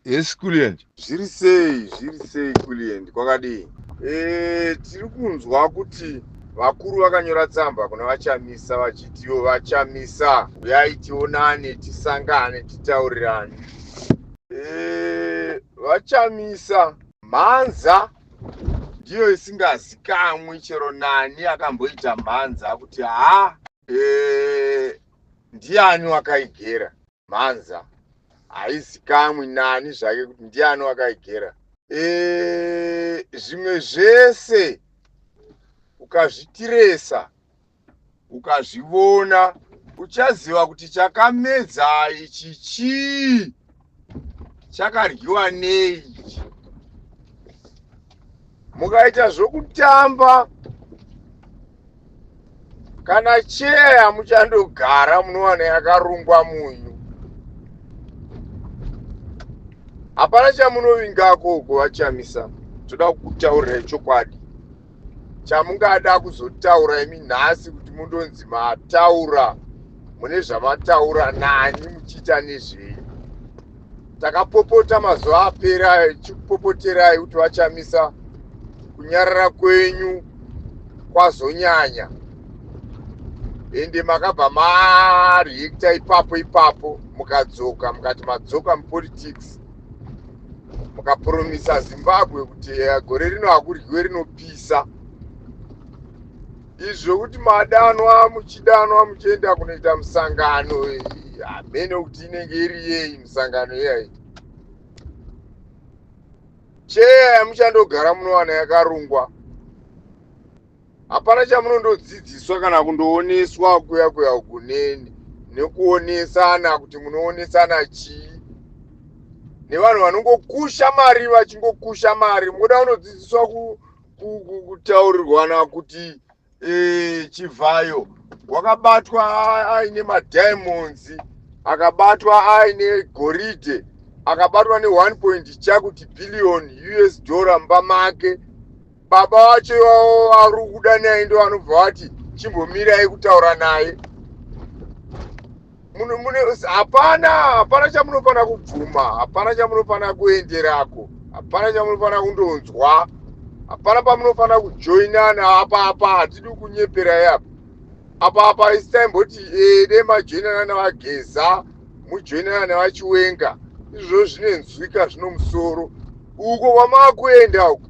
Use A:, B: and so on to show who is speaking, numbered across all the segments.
A: Yes Kulliant. Zviri sei,
B: zviri sei Kulliant, kwakadii? Eh, tiri kunzwa kuti vakuru vakanyora tsamba kuna vaChamisa vachitiwo vaChamisa uyai tionane tisangane titaurirane. Eh, vaChamisa mhanza ndiyo isingazikamwi chero nani akamboita mhanza kuti haa Eh, ndiani wakaigera mhanza haizikamwi nani zvake kuti ndiani wakaigera Eh, zvimwe zvese ukazvitiresa ukazvivona uchaziva kuti chakamedza ichi chii chakadyiwa nei ichi mukaita zvokutamba kana cheya muchandogara munowana yakarungwa munyu hapana chamunovingako uko vachamisa toda kutaurira chokwadi chamungada kuzotaura imi nhasi kuti mundonzi mataura mune zvamataura nani muchiita nezvei takapopota mazuva apera chikupopoterai kuti vachamisa kunyarara kwenyu kwazonyanya ende makabva mareacta ipapo ipapo mukadzoka mukati madzoka mupolitics mukapuromisa zimbabwe kuti eh, gore rino hakuryiwe rinopisa izvi zvekuti madanwa muchidanwa muchienda kunoita musangano eh, hamene kuti inenge iri yei misangano iyai cheya yamuchandogara munowano yakarungwa hapana chamunondodzidziswa kana kundooneswa kuya kuya uku neni nekuonesana kuti munoonesana chii nevanhu vanongokusha mari vachingokusha mari moda unodzidziswa ku, ku, ku, kutaurirwana kuti e, chivhayo wakabatwa aine madiamonds akabatwa aine goridhe akabatwa ne 1 point chakuti billion us dollar mumba make baba vacho ivavo ari kuda naye ndo vanobva vati chimbomirai kutaura naye hapana hapana chamunofanira kubvuma hapana chamunofanira kuenderako hapana chamunofanira kundonzwa hapana pamunofanira kujoinana apa apa hatidi kunyeperai apa apa apa isitaimboti eh, dei majoinana nevageza mujoinana nevachiwenga izvozvo zvinenzwika zvino musoro uko kwamava kuenda uko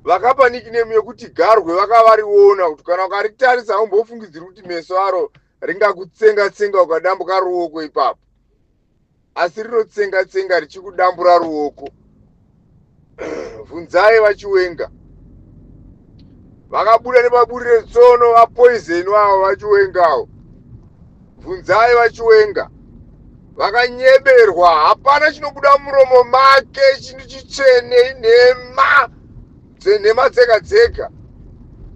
B: vakapa nickname yekuti garwe vakavariona kuti kana ukaritarisa haumbofungidziri kuti meso aro ringakutsenga tsenga ukadambuka ruoko ipapo asi rinotsenga tsenga richikudambura ruoko vhunzai vachiwenga vakabuda nepaburire tsono vapoizeni vavo vachiwengawo bvunzai vachiwenga vakanyeberwa hapana chinobuda muromo make chinhu chitsvene inhema dzenhema dzega dzega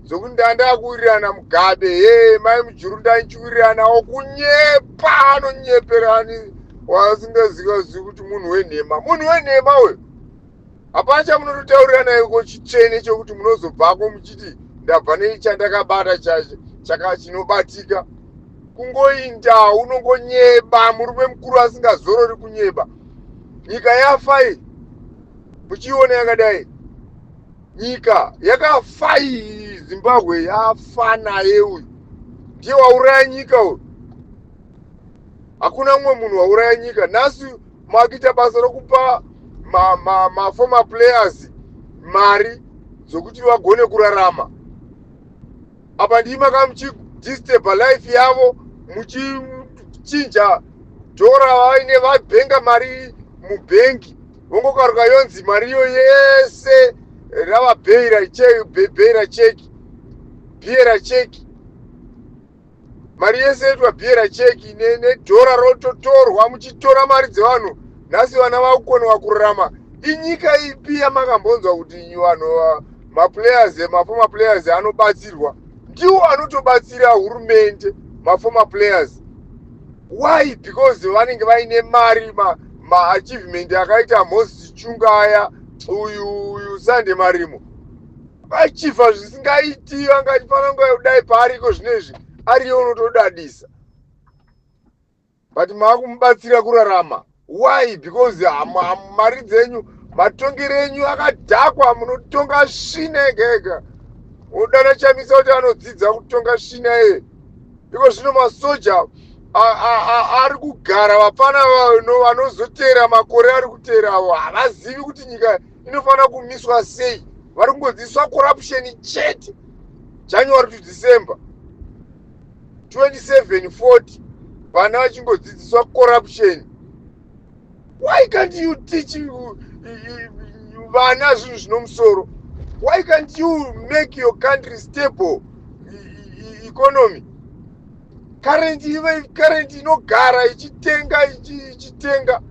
B: dzokuti ndandakuwirirana mugabe hee mai mujuru ndanichiwiriranawo kunyepa anonyeperani wasingazivazivi kuti munhu wenhema munhu wenhema uyo hapana chamunototaurirana iko chitsvene chokuti munozobvako muchiti ndabva nechandakabata chaka chinobatika kungoinda unongonyeba murume mukuru asingazorori kunyeba nyika yafa iyi muchiiona yakadai nyika yakafa iyi zimbabwe yafa naye uyu ndiye wauraya nyika uyu hakuna mumwe munhu wauraya nyika nhasi makuita basa rokupa maformer ma, ma players mari dzokuti vagone kurarama apa ndii maka muchidisturba life yavo muchichinja dhora vaine vabhenga mari mubhengi vongokaruka yonzi mariyo yese rava bheira cheki bheira cheki bhiera cheki mari yese yoitwa bhiera cheki nedhora rototorwa muchitora mari dzevanhu nhasi vana vakukonewa kurarama inyika ipi yamakambonzwa kuti vanhu maplayers mafoma players anobatsirwa ndiwo anotobatsira hurumende mafoma players why because vanenge vaine mari maachievement ma akaita moses chunga aya uyu uyu sande marimo vachifa zvisingaiti vanga achifana nguva yekudai paariko zvino izvi ariyo unotodadisa but maakumubatsira kurarama why because mari dzenyu matongero enyu akadhakwa munotonga svina ega ega odana chamisa kuti anodzidza kutonga svina eye iko zvino masoja ari kugara vapfana vano vanozoteera makore ari kuteerawo havazivi kuti nyika inofanira kumiswa sei vari kungodzidziswa corruption chete january to december 27 40 vana vachingodzidziswa corruption why can't you teach vana zvinhu zvino musoro why can't you make your country stable economy current ive current inogara ichitenga ichitenga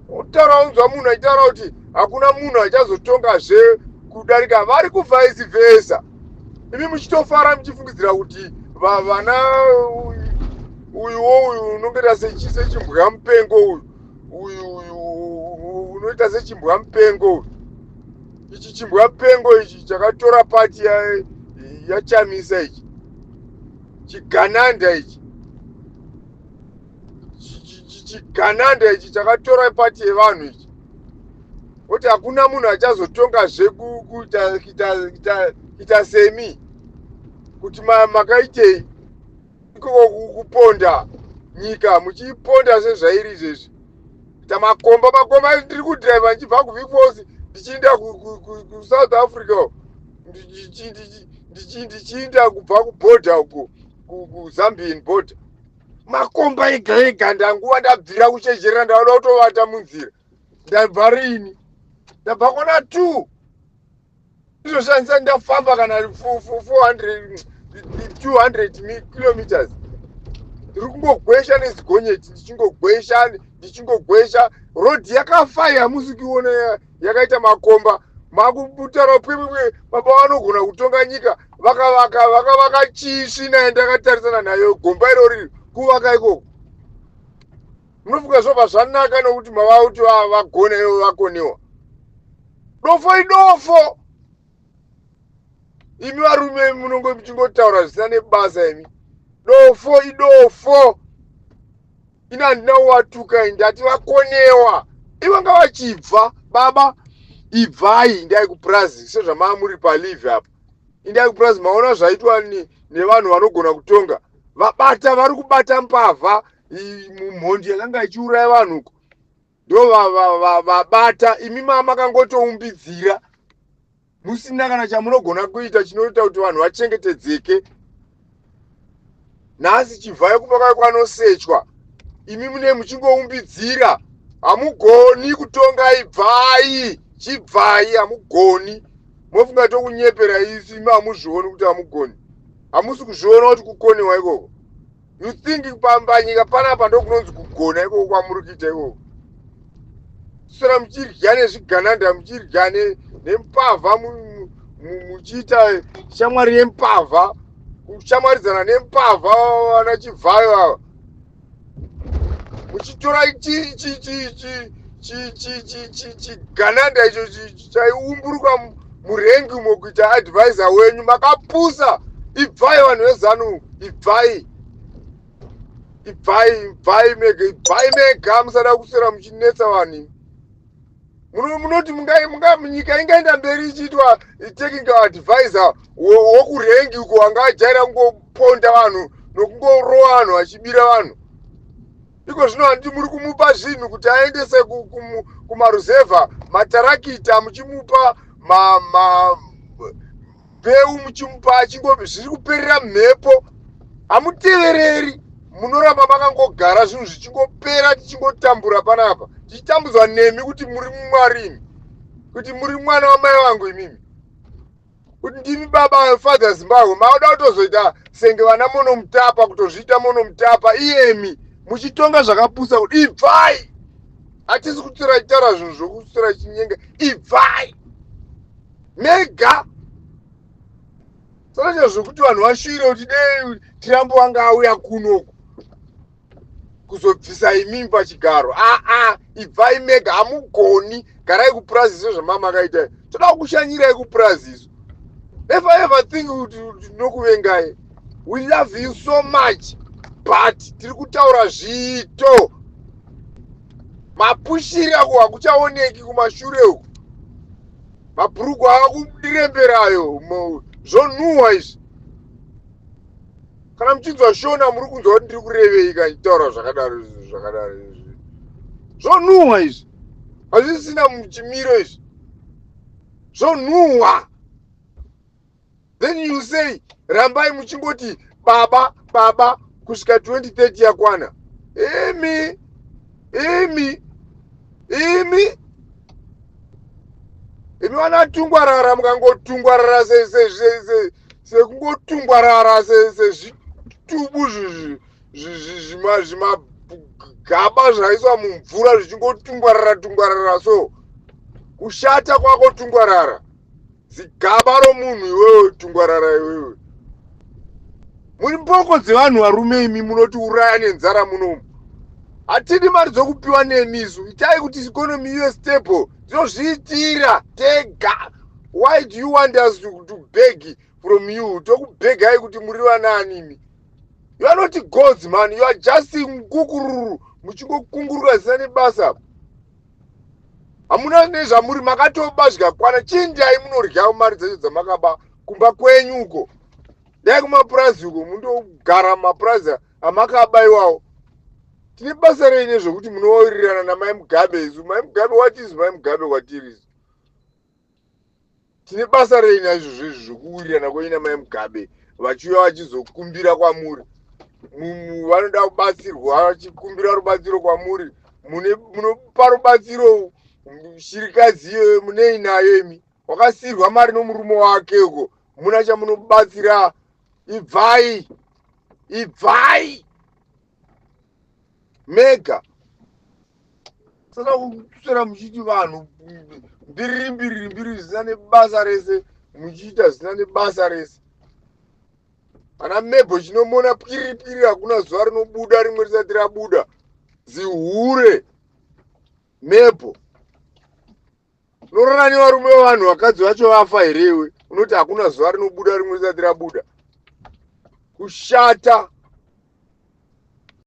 B: kutaura unzwa munhu achitaura kuti hakuna munhu achazotonga zve kudarika vari kuvice vesa imi muchitofara muchifungidzira kuti vana uyuwo uyu unongoita sechimbwa mupengo uyu uyu uyu unoita sechimbwa mupengo uyu ichi chimbwa mupengo ichi chakatora pati yachamisa ichi chigananda ichi chigananda ichi chakatora pati yevanhu ichi kuti hakuna munhu achazotonga zvekuita semi kuti makaitei kuponda nyika muchiponda sezvairi izvezvi kuita makomba makomba ndiri kudriva ndichibva kuvikosi ndichiinda kusouth africa ndichiinda kubva kuborder uko kuzambian border makomba ega ega ndanguva ndabvira kuchezherera ndauda kutovata munzira ndabva rini ndabva kona two ndizoshandisa ndafamba kana 400 200 kilometers ndiri kungogwesha nezigonyeti ndichingogwesha ndichingogwesha road yakafaya hamusi kuiona yakaita makomba makutara pwepwepwe baba vanogona kutonga nyika vakavaka vakavaka chii svinaye ndakatarisana nayo gomba iro riri kuvaka ikoko munofunga zvobva zvanaka nokuti mava kuti vagone ivo vakonewa dofo idofo imi varume munonge muchingotaura zvisina nebasa imi dofo idofo ini handina kuvatuka i ndati vakonewa ivanga vachibva baba ibvai indai kupurazi sezvamaa muri palive apa indai kupurazi maona zvaitwa nevanhu vanogona kutonga vabata vari kubata mbavha mumhondi yakanga ichiuraya vanhu uko ndovabata imi maa makangotoumbidzira musina kana chamunogona kuita chinoita kuti vanhu vachengetedzeke nhasi chivhayo kuba kwayo kwanosechwa imi mune muchingoumbidzira hamugoni kutonga ibvai chibvai hamugoni mofunga tokunyepera isi imi hamuzvioni kuti hamugoni hamusi kuzviona kuti kukonewa ikoko you think pambanyika panapa ndokunonzi kugona ikoko kwamuri kuita ikoko sora muchirya nezvigananda muchirya nempavha muchiita shamwari yempavha kushamwaridzana nempavha vana chivhayo ava muchitora chigananda icho chaiumburuka murengi umo kuita advisor wenyu makapusa ibvai vanhu vezanu ibvai ibvai ibvai mega ibvai mega musada kuswera muchinetsa vanhu munoti nyika ingaenda mberi ichiitwa taking advisor wokurengi uko anga ajaira kungoponda vanhu nokungorowa vanhu vachibira vanhu iko zvino handiti muri kumupa zvinhu kuti aendese kumaruzevha matarakita muchimupa mbeu muchimupa achingo zviri kuperera mhepo hamutevereri munoramba makangogara zvinhu zvichingopera tichingotambura panapa tichitambudzwa nemi kuti muri mumwarimi kuti muri mwana wamai vangu imimi kuti ndimi baba vefather zimbabwe maoda kutozoita senge vana monomutapa kutozviita monomutapa iyemi muchitonga zvakapusa kuti ibvai hatisi kutsira chitaura zvinhu zvokutsira chinyenga ibvai mega saka zvekuti vanhu vashuvire kuti dei tirambo vanga auya kunoku kuzobvisa imimi pachigaro aa ah, ah, ibvai mega hamugoni garai kupurazi izvo zvamamakaita toda kukushanyirai kupurazi izvo if i ever think kuti tinokuvengai we love you so much but tiri kutaura zviito mapushiri ako hakuchaoneki kumashure uku mabhurugwa akudiremberayo zvonhuhwa izvi kana muchinzwa shona muri kunzwa kuti ndiri kurevei ka nditaura zvakadaro izvi zvakadaro izvi zvonhuhwa izvi hazvisina muchimiro izvi zvonhuhwa then you say rambai muchingoti baba baba kusvika 2030 yakwana imi imi imi imi vanatungwarara mukangotungwarara sekungotungwarara sezvitubu zvimagaba zvaiswa mumvura zvichingotungwarara tungwarara so kushata kwako tungwarara zigaba romunhu iwewe tungwarara iwewe muri mboko dzevanhu varume imi munoti uraya nenzara munomu hatidi mari dzokupiwa nemisu itai kuti ikonomi ive stable tinozviitira tega why do you want us to, to beg from you tokubegai kuti muri vanaanimi you are not gods man you are just nkukururu muchingokungurura zina nebasa apo hamuna nezvamuri makatoba zvikakwana chii ndiyai munoryawo mari dzacho dzamakaba kumba kwenyu uko dai kumapurazi uko mundogara mumapurazi amakaba iwawo tine basa rei nezvekuti munowirirana namai mugabe isu mai mugabe watizi mai mugabe kwatirisu tine basa rei naizvozvo izvi zvokuwirirana kwenyu namai mugabe vachiuya vachizokumbira kwamuri vanoda kubatsirwa vachikumbira rubatsiro kwamuri munopa rubatsiro shirikadzi iyoyo munei nayo imi wakasirwa mari nomurume wake uko muna chamunobatsira ibvai ibvai mega saka kuswera muchiti vanhu mbiriri mbiriri mbiriri zvisina nebasa rese muchiita zvisina nebasa rese ana mebho chinomona piri piri hakuna zuva rinobuda rimwe risati rabuda zihure mebho Unororani varume vevanhu vakadzi vacho vafa here iwe? Unoti hakuna zuva rinobuda rimwe risati rabuda. Kushata.